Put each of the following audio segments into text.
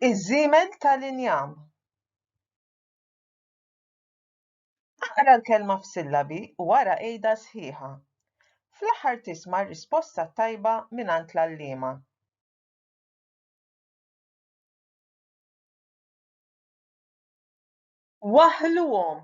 Iż-żiemel tal-injam. Aqra l-kelma f'sillabi u ara għidha sħiħa. Fl-aħħar tisma' r-risposta t-tajba mingħand l-għalliema. Waħħluhom.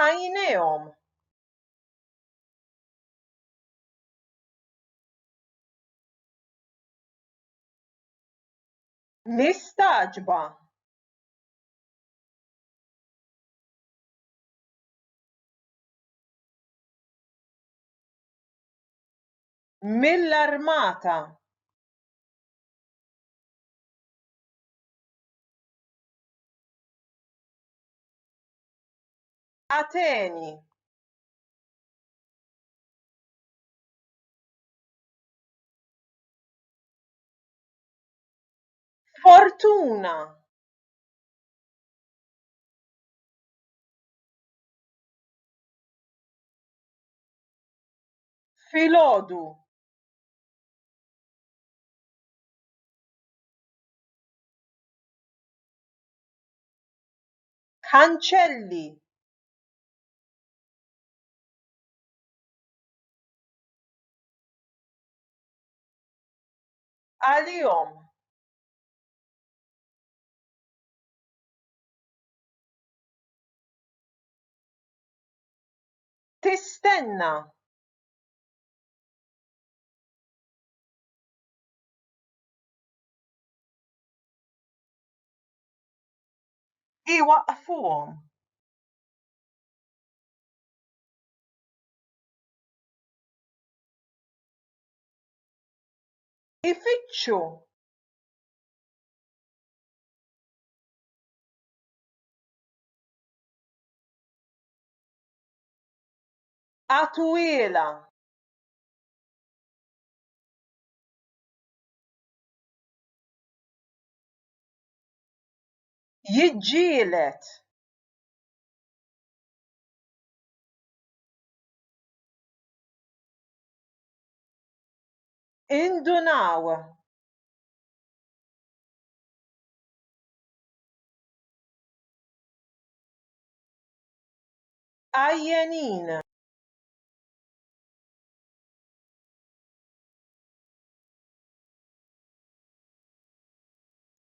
għajnejhom. Mistaġba. mill-armata Ateni. Fortuna. Filgħodu. Kanċelli! Għalihom! Tistenna! iwaqqfuhom. Ifittxu għatwielha jiġġieled indunaw għajjenin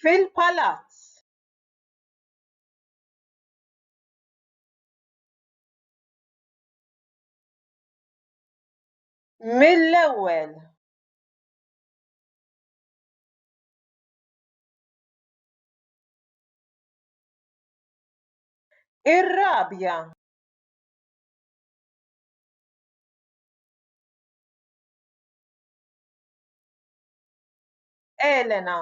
fil-palazz. Mill-ewwel. Ir-rabja. Elena.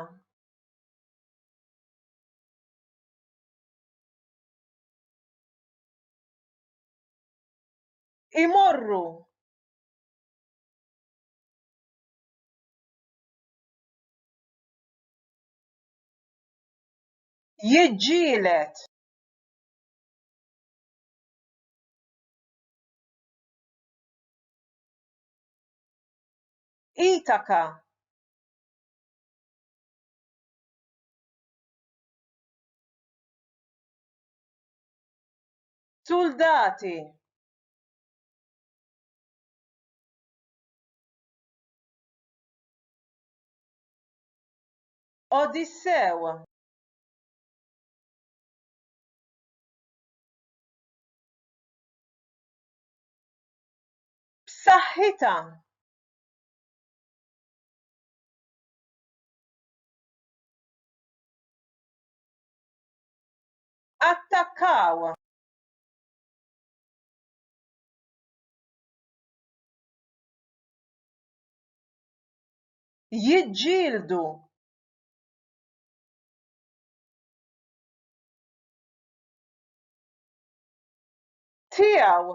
Imorru. Jiġġielet. Itaka. Suldati! Odissew! B'saħħitha! attakkaw jiġġieldu tiegħu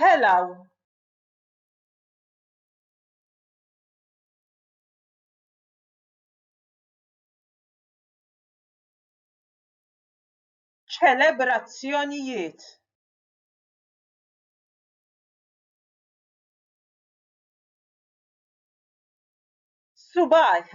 telgħu ċelebrazzjonijiet subajh